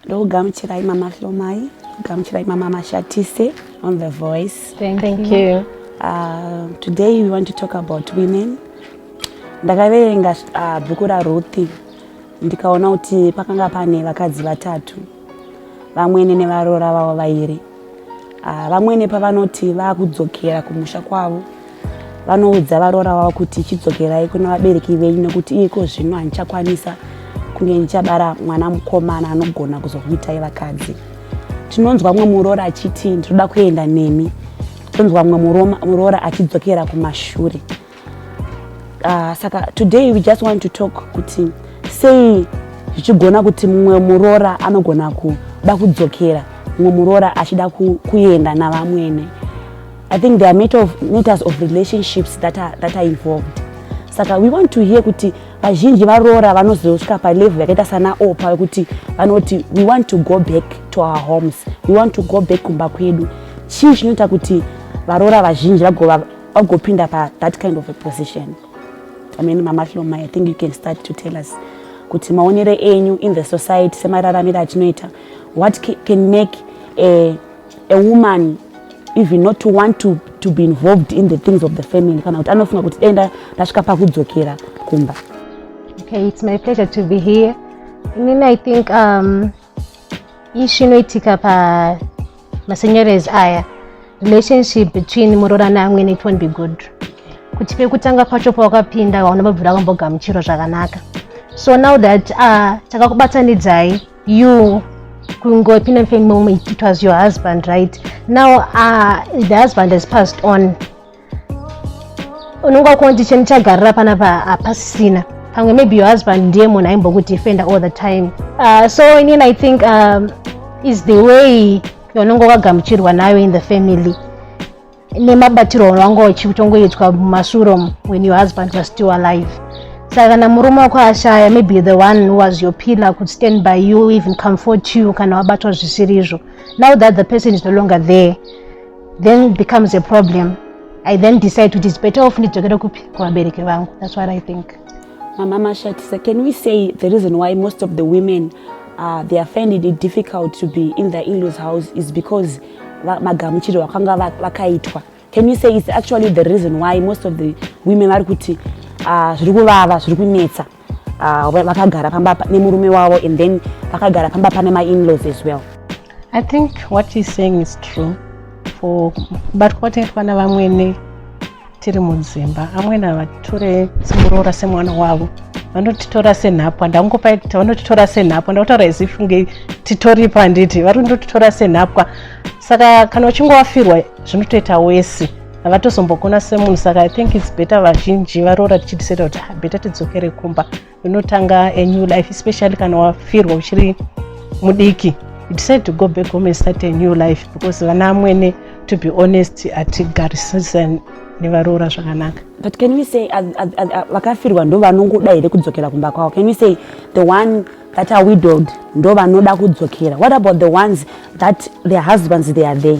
ndokugamuchirai mama hlomai gamuchirai mama mashatise on the voice thank, thank you, you. Uh, today we want to talk about women ndakaverenga uh, bhuku raruthi ndikaona kuti pakanga pane vakadzi vatatu vamwene nevaroora vavo vairi ah, vamwene pavanoti vakudzokera kumusha kwavo vanoudza varoora vavo kuti chidzokerai kuna vabereki venyu nekuti iko zvino handichakwanisa kunge ndichabara mwana mukomana anogona kuzokuitai vakadzi tinonzwa mumwe muroora achiti ndinoda kuenda nemi tonzwa mumwe muroora achidzokera kumashure Uh, saka today we just want to talk kuti sei zvichigona kuti mumwe muroora anogona kuda kudzokera mumwe muroora achida kuenda navamwene i think there are matter of, matters of relationships that are, that are involved saka we want to hear kuti vazhinji varoora vanozosvika palevel yakaita sana opa vekuti vanoti we want to go back to our homes we want to go back kumba kwedu chii chinoita kuti varoora vazhinji vagova Augopinda pa that kind of a position. I mean, Mama Hloma, I think you can start to tell us kuti maonere enyu in the society semararamiro atinoita what can make a, a woman even not to want to, to be involved in the things of the family kana kuti anofunga kuti denda ndasvika pakudzokera kumba okay it's my pleasure to be here inini i think um, Ishu inoitika pa masenyores aya relationship between muroora neamwene it won't be good kuti pekutanga pacho pawakapinda waona vabvira kambogamuchiro zvakanaka so now that uh, takakubatanidzai you kungopinda mfemom it was your husband right now uh, the husband has passed on unenge wakunoti cheni chagarira panapa hapasisina pamwe maybe your husband ndiye munhu aimbokudefenda all the time uh, so inini i think um, is the way yaunenge wakagamuchirwa nayo in the family nemabatirwo aunanga uchitongoitwa mumasuro when your husband was still alive saka kana murume wako ashaya maybe the one who was your pillar could stand by you even comfort you kana wabatwa zvisirizvo now that the person is no longer there then it becomes a problem i then decide kuti its better off ndidzokere kupi kuvabereki vangu thats what i think mama mashatisa can we say the reason why most of the women uh, they are finding it difficult to be in the inlaws house is because magamuchiro vakanga vakaitwa can you say it's actually the reason why most of the women vari kuti ah, zviri kuvava zviri kunetsa uh, vakagara pamba nemurume wavo and then vakagara pamba pane mainlaws as well i think what is saying is true for but kwataitwa navamwene tiri mudzimba amwene havature simuroora semwana wavo vanotitora senhapwa ndangopa kuti vanotitora senhapwa ndakutaura as if nge titoripa handiti vari kundotitora senhapwa saka kana uchingovafirwa zvinotoita wesi havatozombokona semunhu saka i think its better vazhinji varoora tichidiseta kuti ah, better tidzokere kumba unotanga a new life especially kana wafirwa uchiri mudiki you decide to go back home and start a new life because vana amwene to be honest hatigarisisa nevaroora zvakanaka but can we say vakafirwa ndo vanongoda here kudzokera kumba kwavo can we say the one that are widowed ndo vanoda kudzokera what about the ones that their husbands they are there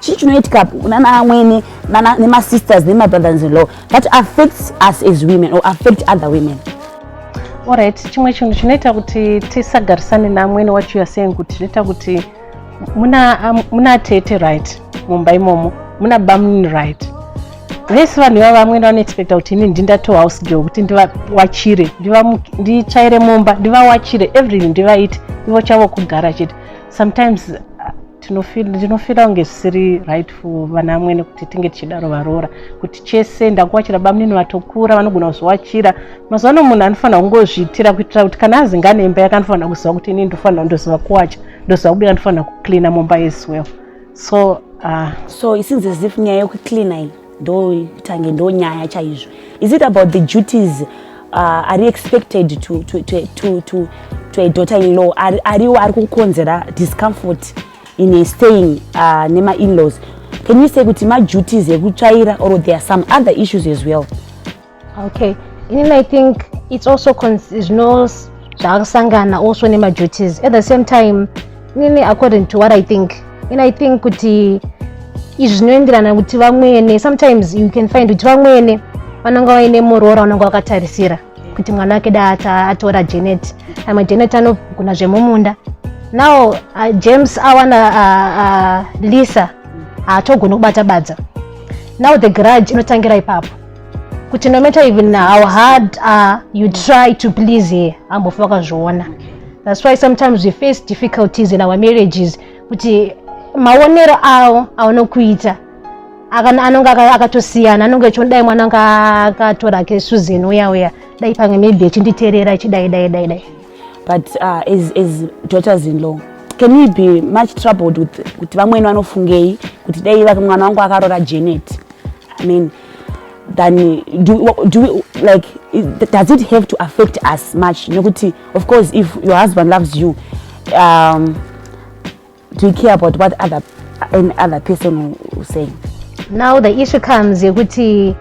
chii chinoitika nana amwene nemasisters nemabrothers in law that affects us as women or affect other women orit chimwe chinhu chinoita kuti tisagarisane neamwene wacho yaseying kuti zvinoita kuti muna tete right mumba imomo muna bamnini right vese vanhu ivavo vamwene vanoexpecta kuti ini ndindatohouse girl kuti ndivawachire nditsvaire mumba ndivawachire everything ndivaite ivo chavo kugara chete sometimes ndinofira kunge zvisiri right for vana amwene kuti tinge tichidaro varoora kuti chese ndakuwachira bamunini vatokura vanogona kuzviwachira mazuva ano munhu anofanira kungozviitira kuitira kuti kana azingane imba yake anofanira kuziva kuti ini ndofanira ndoziva kuwacha ndoziva kubika ndofanira kucleana mumba as well so uh, so isinzi zif nyaya yekucleana iyi ndo tange ndo nyaya chaizvo is it about the duties uh, ari expected to, to, to, to, to, to a daughter in law ariwo ari kukonzera discomfort in a staying uh, nema in laws can you say kuti maduties ekutsvaira or there are some other issues as well okay inini i think it's also zvino zvaakusangana also nemaduties at the same time inini according to what i think in i think kuti izvi zvinoenderana kuti vamwene sometimes you can find kuti vamwene vanonga vaine muroora unonga wakatarisira kuti mwana wake da atora janet amwe janet anogona zvemumunda now uh, james awana uh, uh, lisa haatogoni uh, kubata badza now the grudge inotangira ipapo kuti no matter even how hard uh, you try to please her ambofa wakazviona that's why sometimes we face difficulties in our marriages kuti maonero awo aunokuita anonge akatosiyana anonge achiona dai mwana anga akatora ke susan uya uya dai pamwe maybe achinditeerera achidai dai dai dai but uh, as, as daughters in law can we be much troubled with kuti vamweni vanofungei kuti dai mwana wangu akarora janet i mean than do, do we, like does it have to affect us much nekuti of course if your husband loves you um, do you care about what other any other person will say now the issue comes yekuti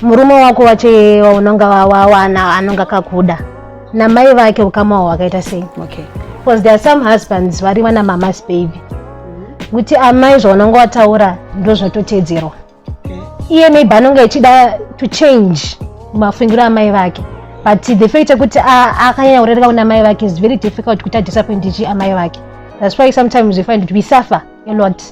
murume wako wache waunonga wawana anonga kakuda namai vake ukama wawo wakaita sei okay because there are some husbands vari vana mamas baby kuti amai zvaunonga wataura ndozvatotedzerwa iye maybe anonge achida to change mafungiro amai vake but the fact yekuti akanyanya kurereka kuna mai vake is very difficult kuti adisappointichi amai vake that's why sometimes we find kuti we suffer a lot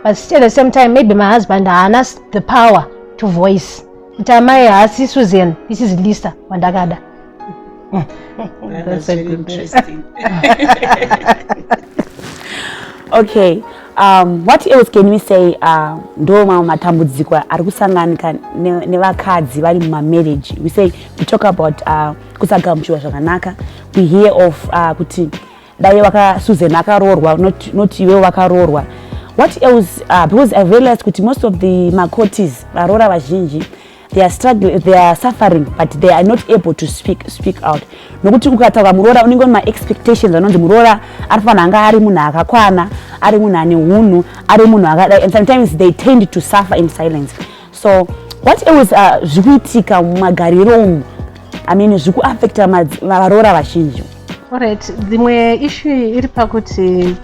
but still at the same time maybe my husband haana the power to voice kuti amai haasi susan this is lisa wandakada That's a good interesting. okay. Um, what else can we say uh, ndo mamwe matambudziko ari kusanganika nevakadzi vari mumamarriage we say we talk about uh, kusagamuchiwa zvakanaka we hear of uh, kuti dai vakasusan akaroorwa not, not iwe vakaroorwa what else uh, because i realized kuti most of the macotis varoora vazhinji they are struggling they are suffering but they are not able to speak speak out nokuti ukataura muroora unenge une maexpectations anonzi muroora ari fanira anga ari munhu akakwana ari munhu ane unhu ari munhu akadai and sometimes they tend to suffer in silence so what always uh, zviri kuitika mumagariro umu i mean zviri kuaffecta varoora vazhinji orit dzimwe issue iri pakuti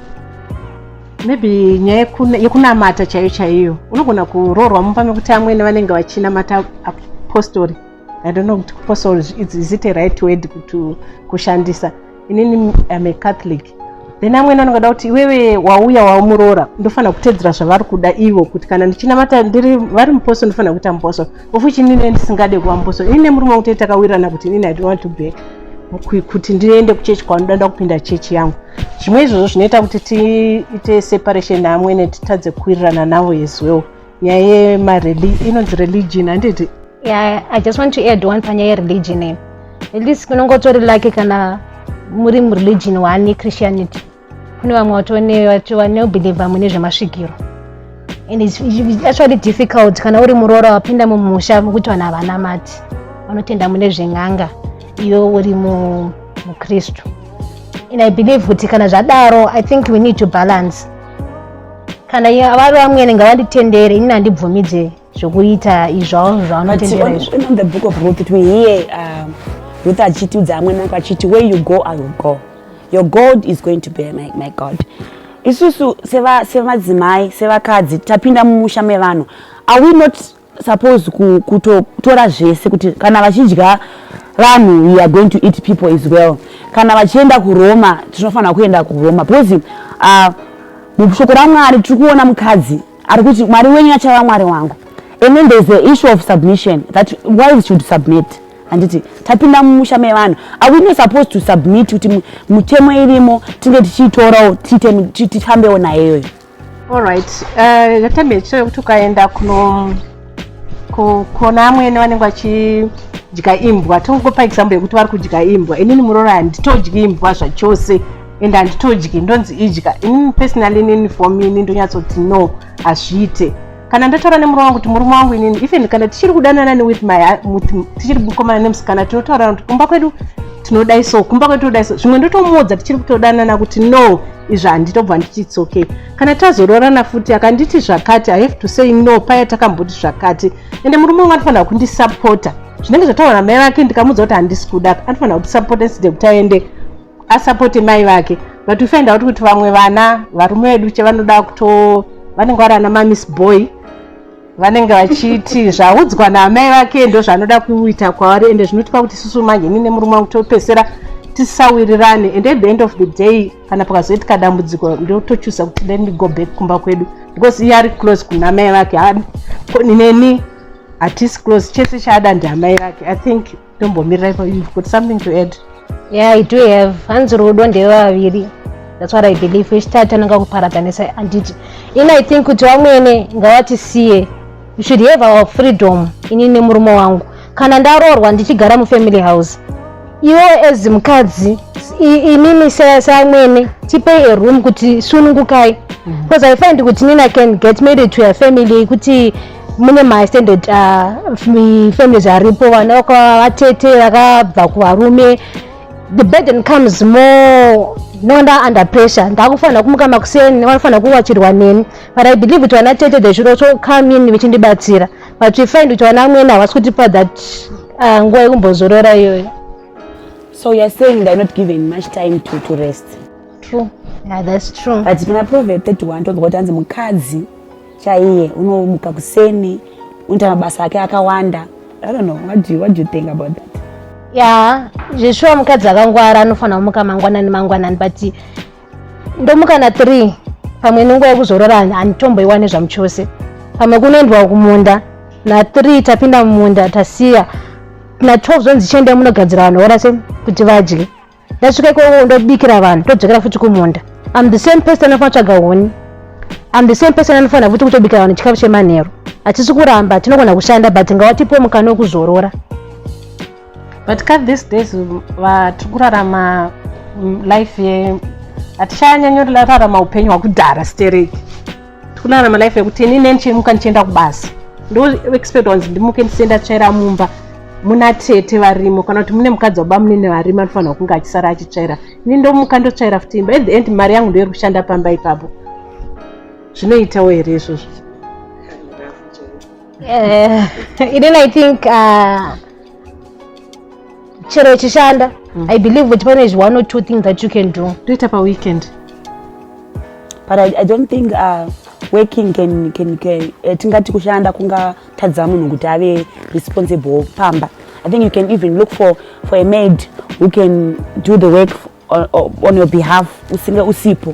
maybe nyaya yekunamata chaiyo chaiyo unogona kuroorwa mumba mekuti amwene vanenge vachinamata apostori i don't know kuti kupostori is it a right word kuti kushandisa inini am a catholic then amwene anongada kuti iwewe wauya waumuroora ndofanira kutedzera zvavari kuda ivo kuti kana ndichinamata ndiri vari mupostori ndofanira kuita mupostori of which inini ndisingade kuvamboso ini nemurume wangu tee takawirana kuti inini i don't want to back kuti ndiende kuchechi kwanoda nda kupinda chechi yangu zvimwe izvozvo zvinoita kuti tiite separation naamwene titadze kuwirirana navo as well nyaya yemareli inonzi religion handiti yeah, i just want to add one panyaya yereligion at least kunongotori lake kana muri mureligion one yechristianity kune vamwe vatonevachiva neubhilivha mune zvemasvikiro and it's, it's actually difficult kana uri muroora wapinda mumusha mokuti vanhu havanamati vanotenda mune zven'anga iyo uri mukristu and i believe kuti kana zvadaro i think we need to balance kana vari vamwene ngavanditendere ini handibvumidze zvokuita izvao zvaanotendera izvo in the book of ruth it we hear um, ruth achitiudza amwe nako achiti where you go i will go your god is going to be my, my god isusu semadzimai sevakadzi tapinda mumusha mevanhu are we not supposed kutotora zvese kuti kana vachidya vanhu we are going to eat people as well kana vachienda kuroma tinofanira kuenda kuroma because uh, mushoko ramwari tiri kuona mukadzi ari kuti mwari wenyu achava mwari wangu and then there's the issue of submission that wives should submit handiti tapinda mumusha mevanhu are we not supposed to submit kuti mutemo irimo tinge tichiitorawo tifambewo naye iyoyo allright uh, yatambe chitoyo kuti ukaenda kuno kona amwene vanenge vachidya imbwa tongopa example yekuti vari kudya imbwa inini muroora handitodyi imbwa zvachose and handitodyi ndonzi idya inini personally inini for me ini ndonyatsoti no hazviite kana ndataura nemurume wangu kuti murume wangu inini even kana tichiri kudanana newith my tichiri kukomana nemusikana tinotaurana kuti kumba kwedu tinodai so kumba kwedu tinodai so zvimwe ndotomuudza tichiri kutodanana kuti no izvi handitobva ndichitsoke okay. kana tazoroorana futi akanditi zvakati i have to say no paya takamboti zvakati ende murume wangu anofanira kundisapota zvinenge zvataura namai vake ndikamuudza kuti handisi kuda anofanira kutisapota nside kuti aende asapote mai vake but ufainda kuti kuti vamwe vana varume vedu chavanoda kuto vanenge vari ana mamis boy vanenge vachiti zvaudzwa naamai vake ndo zvanoda kuita kwavari ende zvinotipa kuti susu manje nine murume wangu topesera tisawirirane and at the end of the day kana pakazoitika dambudziko ndotochusa kuti let me go back kumba kwedu because iye ari close kuna mai vake neni hatisi close chese chaada ndiamai vake i think ndombomirai pa you've got something to add yeah i do have hanzi rudo ndevaviri that's what i believe wechitatu anonga kuparatanisa handiti in i think kuti wamwene ngawatisiye you should have our freedom ini nemurume wangu kana ndaroorwa ndichigara mufamily house iwewe as mukadzi inini seamwene tipei a room kuti sunungukai mhm. because i find kuti nina can get married to a family yekuti mune mastandard uh, families aripo vana vakavatete vakabva kuvarume the burden comes more nonda under pressure ndakufanira kumuka makuseni vanofanira kuwachirwa neni but i believe kuti vana tete they should also come in vechindibatsira but we find kuti vana amwene havasi kutipa that uh, nguva yekumbozorora iyoyo so youare saying theyare not given much time to, to rest true yeah, that's true but pana proverb 31 tonzwa kuti hanzi mukadzi chaiye unomuka kuseni unoita mabasa ake akawanda i don't know what do you, what do you think about that ya yeah, zveshuwa mukadzi akangwara anofanira kumuka mangwanani mangwanani but ndomukana 3 pamwe nenguva yekuzorora handitomboiwane zvamu chose pamwe kunoendwa kumunda na3 tapinda mumunda tasiya na12 zvonzi chiendai munogadzira vanhu ora se kuti vadye ndasvika ikoko ndobikira vanhu todzokera futi kumunda am the same person anofanira tsvaga huni am the same person anofanira futi kutobikira vanhu chikafu chemanheru hatisi kuramba tinogona kushanda but ngawatipo mukana wekuzorora but ka these days vatiri kurarama mm, life ye hatichanyanyorararama upenyu hwakudhara stereki tikurarama life yekuti ini ne ndichimuka ndichienda kubasa ndoexpect wanzi ndimuke ndisienda tsvaira mumba muna tete varimo kana kuti mune mukadzi waba munene varimo anofanirwa kunge achisara achitsvaira ini ndomuka ndotsvaira futi imba at the end mari yangu ndoiri kushanda pamba ipapo zvinoitawo here izvozvo Eh, ini i think uh, chero ichishanda mm. i believe kuti pane zvi one or two things that you can do toita paweekend but I, i don't think uh, working can, can, can, uh, tingati kushanda kungatadza munhu kuti ave responsible pamba i think you can even look for, for a maid who can do the work on, on your behalf usinge usipo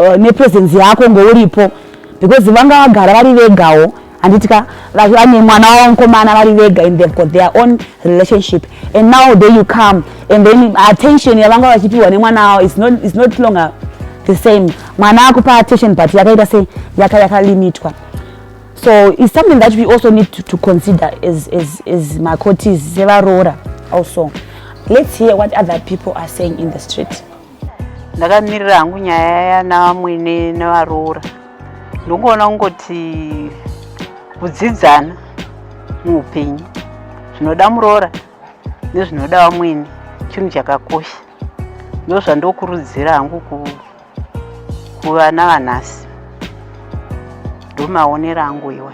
uh, nepresence yako ngouripo because vanga vagara vari vegawo handiti ka vane mwana wavo mukomana vari vega and they've got their own relationship and now day you come and then attention yavanga vachipiwa nemwana wavo is not, is not longer the same mwana akupa attention but yakaita se yaka yakalimitwa so it's something that we also need to, to consider as, as, as macotis sevaroora also let's hear what other people are saying in the street ndakamirira hangu nyaya yanamwene nevaroora ndongoona kungoti kudzidzana muupenyu zvinoda muroora nezvinoda vamwene chinhu chakakosha ndozvandokurudzira hangu kuvana vanhasi ndomaonero angu iwa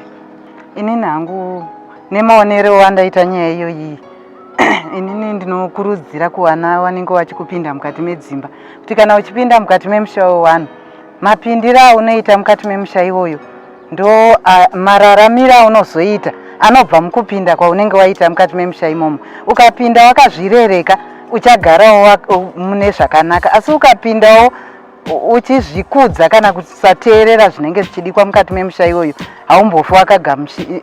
inini hangu nemaonero wandaita nyaya iyoyi inini ndinokurudzira kuvana vanenge vachikupinda mukati medzimba kuti kana uchipinda mukati memusha wevanhu mapindiro aunoita mukati memusha iwoyo ndo mararamiro aunozoita anobva mukupinda kwaunenge waita mukati memusha imomo ukapinda wakazvirereka uchagarawo mune zvakanaka asi ukapindawo uchizvikudza kana kusateerera zvinenge zvichidikwa mukati memusha iyoyo haumbofi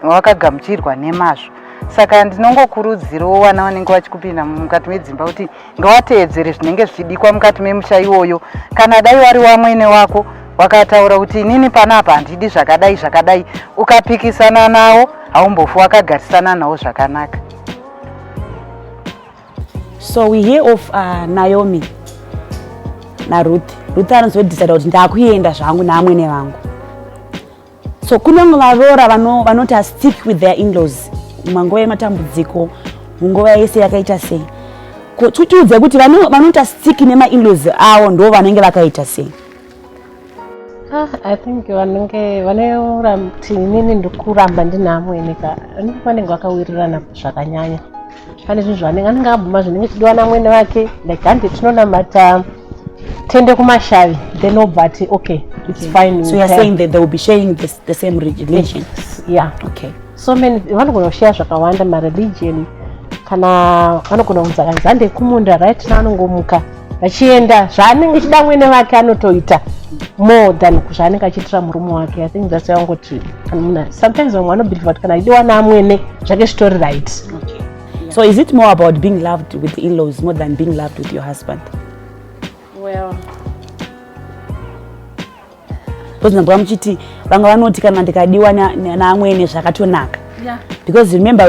wakagamuchirwa nemazvo saka ndinongokurudzirawo vana vanenge vachikupinda mukati medzimba kuti ngawateedzere zvinenge zvichidikwa mukati memusha iwoyo kana dai wari wamwene wako wakataura kuti inini pana apa handidi zvakadai zvakadai ukapikisana nawo haumbofi wakagarisana nawo zvakanaka So we hear of uh, Naomi naRuth. Ruth anozodecida kuti ndakuenda zvangu naamwene vangu. So kunyange varoora vanoti vano stick with their inlaws manguva yematambudziko munguva yese yakaita sei tiudze kuti vanoti stick nemainlaws avo ndo vanenge vakaita sei Ah, I think vanenge vanoyora kuti inini ndikuramba ndine amwene ka anenge vanenge vakawirirana zvakanyanya pane zvinhu zvanenge anenge akabvuma zvinenge chidiwa namwene vake like handi tinonamata tende kumashavi then obva ati okay it's okay. fine so you're saying that they will be sharing this, the same religion yes. yeah okay so many vanogona kushaya zvakawanda mareligion kana vanogona kunzi akanzi hande kumunda right na anongomuka achienda zvaanenge achida mwene vake anotoita more than zvaanenge achiitira murume wake i think thats why angoti sometimes vamwe vanobelieve kuti kana achidiwa naamwene zvake zvitori right so is it more about being loved with inlaws more than being loved with your husband well because ndambwa muchiti vanga vanoti kana ndikadiwa naamwene zvakatonaka because remember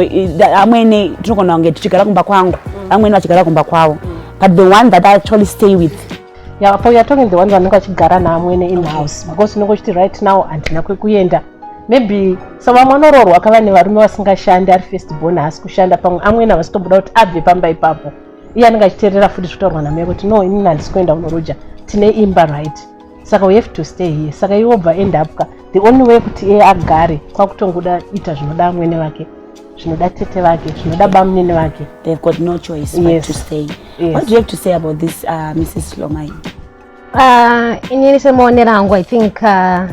amwene tinogona kunge tichigara kumba kwangu vamwene vachigara kumba kwavo but the one that i actually stay with yeah, for you're talking the one vanenge vachigara naamwene in house because unenge uchiti right now handina kwekuenda maybe so vamwe anoroorwa kava nevarume vasingashandi ari first born haasi kushanda pamwe amwene havasi tobuda kuti abve pamba ipapo iye anenge achiteerera futi zvitaurwa namai kuti no inini handisi kuenda kunoroja tine imba right saka we have to stay here saka iwe obva end up ka the only way kuti iye agare kwakutongoda ita zvinoda amwene vake zvinoda tete vake zvinoda bamunini vake they've got no choice yes. but to stay yes. what do you have to say about this uh, mrs lomai uh, inini semaonero angu i think uh,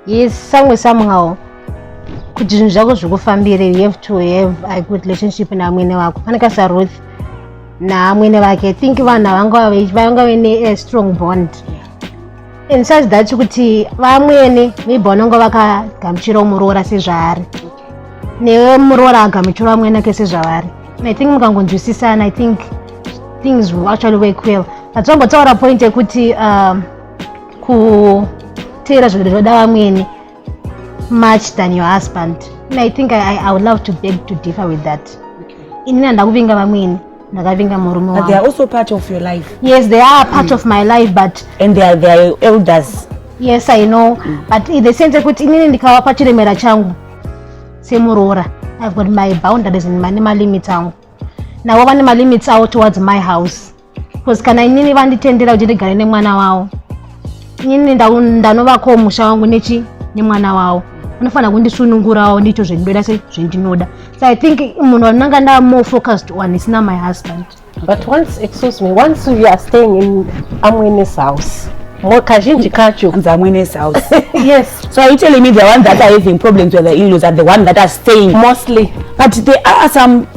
yes somewhere somehow kuti zvinhu zvako zvikufambire you have to have a good relationship naamwene wako faneka saruth naamwene vake think vanhu vanga vane a strong bond and such that kuti vamwene maybe vanonga vakagamuchirawo muroora sezvaari newe muroora agamuchirawo amwene ake sezvavari i think mukangonzwisisana i think things will actually work well but tongotaura point yekuti um, kuteera zvinhu zvinoda vamwene much than your husband and i think I, i would love to beg to differ with that okay. inini handakuvinga vamwene ndakavinga murume wangu they are also part of your life yes they are part mm. of my life but and they are, they are elders yes i know mm. but in the sense yekuti inini ndikavapa chiremera changu semuroora i've got my boundaries and my limits angu navo vane malimits avo towards my house because kana inini vanditendera kuti ndigare nemwana wavo inini ndanovakowo musha wangu nechi nemwana wavo vanofanira kundisunungurawo ndiito zvendinoda se zvendinoda so i think munhu vanonanga ndaa more focused on isina my husband but once excuse me once you are staying in amwene's house kazhinji kacho kunzi amwene's house yes so are you telling me the one that are having problems with the inlaws are the one that are staying mostly but there are some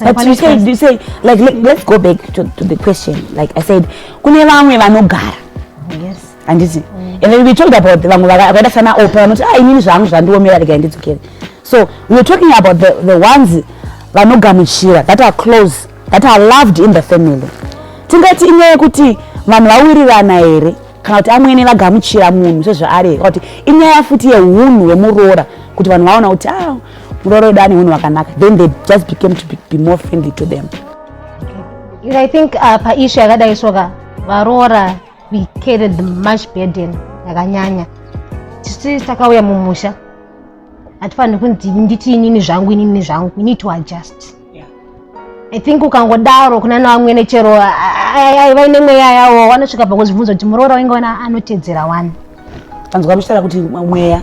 but you said, you said like let, let's go back to, to the question like i said kune vamwe vanogara yes handiti mm. and then we talked about vamwe vakaita sana opa vanoti ah inini zvangu zvandiomera regai ndidzokere so we were talking about the, the ones vanogamuchira that are close that are loved in the family tingati inyaya yekuti vanhu vawirirana here kana kuti amwene vagamuchira munhu sezvaari here kana kuti inyaya futi yeunhu hwemuroora kuti vanhu vaona kuti a ah, muroora wedu ane unhu wakanaka then they just became to be, be more friendly to them i think uh, paishu yakadai soka varoora we carried the much burden yakanyanya tisi takauya mumusha hatifaniri kunzi nditi inini zvangu inini zvangu we need to adjust yeah. i think ukangodaro kuna navamwene chero aiva ine mweya yawo wanosvika pakuzvibvunza kuti muroora wainge wana anotedzera wani anzwa muchitaura kuti mweya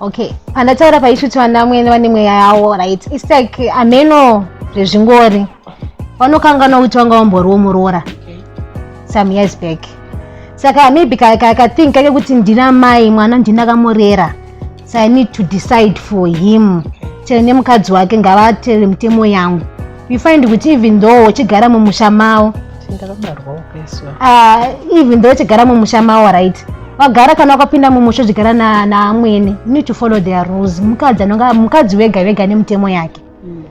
okay pandataura paisvitswa namwene vane mweya yawo right its like ameno zvezvingori vanokanganwa kuti vanga vamboriwo muroora some years back saka maybe kakathink kake kuti ndina mai mwana ndini akamurera so i need to decide for him chero nemukadzi wake ngavatere mitemo yangu you find kuti even though uchigara mumusha mawo ah, even though uchigara mumusha mawo right wagara kana wakapinda mumusha uchigara naamwene you need to follow their rules mukadzi anonga mukadzi wega vega nemutemo yake mm.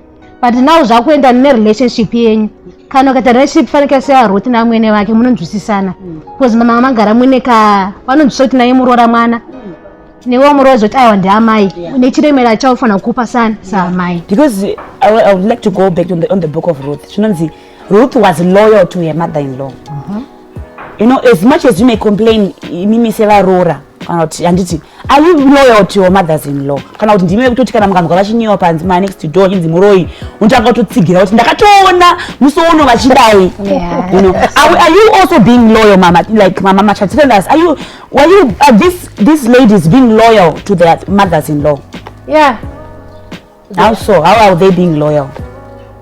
but now zvakuenda nerelationship yenyu kana ukaita relationship fanike seya ruth naamwene vake munonzwisisana mm. because mama magara mwine ka vanonzwisisa kuti naye muroora mwana mm. newe umuri wazoti aiwa ndiamai yeah. nechiremera chaufanira kukupa sana saamai because I, I would like to go back on the, on the book of ruth chinonzi ruth was loyal to her mother in law uh -huh. you know as much as you may complain imimi sevaroora kana kuti handiti are you loyal to your mothers in law kana kuti ndime kutoti kana mukanzwa vachinyewa panzi ma next door chinzi muroyi unotanga kutotsigira kuti ndakatoona musi uno vachidai you know are, are you also being loyal mama like mama machatirenders are you Well, you, uh, this, this lady is being loyal to their mothers-in-law. Yeah. How so? How are they being loyal?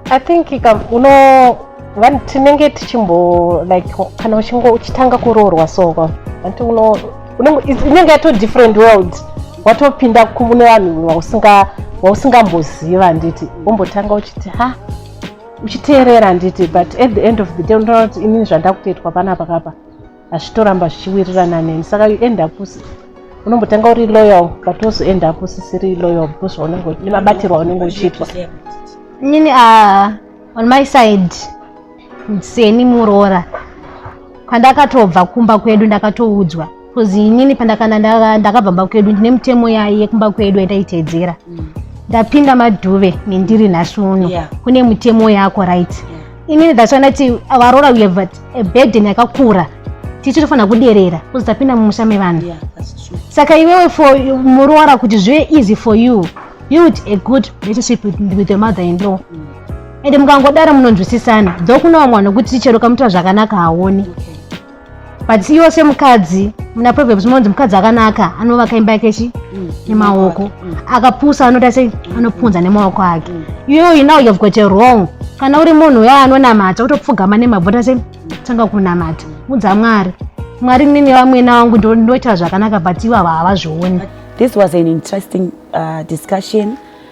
I think, um, you know, vanhu tinenge tichimbo like kana uchingo uchitanga kuroorwa soko vanti uno inenge yato different world watopinda kune vanhu vausinga wausingamboziva handiti wombotanga uchiti ha uchiteerera handiti but at the end of the day unoona kuti inini zvandakutoitwa panapa kapa azvitoramba zvichiwirirana neni saka you end up unombotanga uri loyal but also end up usisiri loyal because zvaunenge nemabatirwa unenge uchiitwa nini uh, on my side seni muroora pandakatobva kumba kwedu ndakatoudzwa bcause inini pandakana ndakabva mba kwedu ndine mutemo yayi yekumba kwedu yandaiteedzera mm. ndapinda madhuve nendiri nhasi uno kune mutemo yako right yeah. inini that's why ndati varoora we have a burden yakakura tisu tofanira kuderera kuzi tapinda mumusha mevanhu saka iwewe for muroora kuti zvive easy for you build a good relationship with your mother in law mm. ende mukangodaro munonzwisisana dzokunawo mwana wekuti ticheroka mutora zvakanaka haoni okay. but iwo semukadzi muna proverbs munonzi mukadzi akanaka anovaka imba yake chi mm. nemaoko mm. akapusa anoita sei anopunza nemaoko ake mm. iyoyi now you've got a wrong kana uri munhu uya anonamata utopfugama nemabvi ota sei tanga kunamata mudza mwari mwari nini vamwena wangu ndoita zvakanaka but ivo ava havazvioni this was an interesting uh, discussion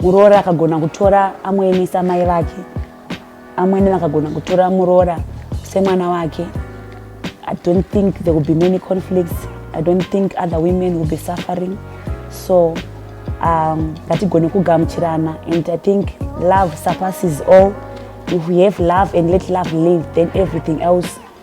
Muroora akagona kutora amoemesa mai vake, amwene vakagona kutora muroora semwana wake. I don't think there will be many conflicts. I don't think other women will be suffering. So um, ngatigone um, kugamuchirana and I think love surpasses all. If we have love and let love live, then everything else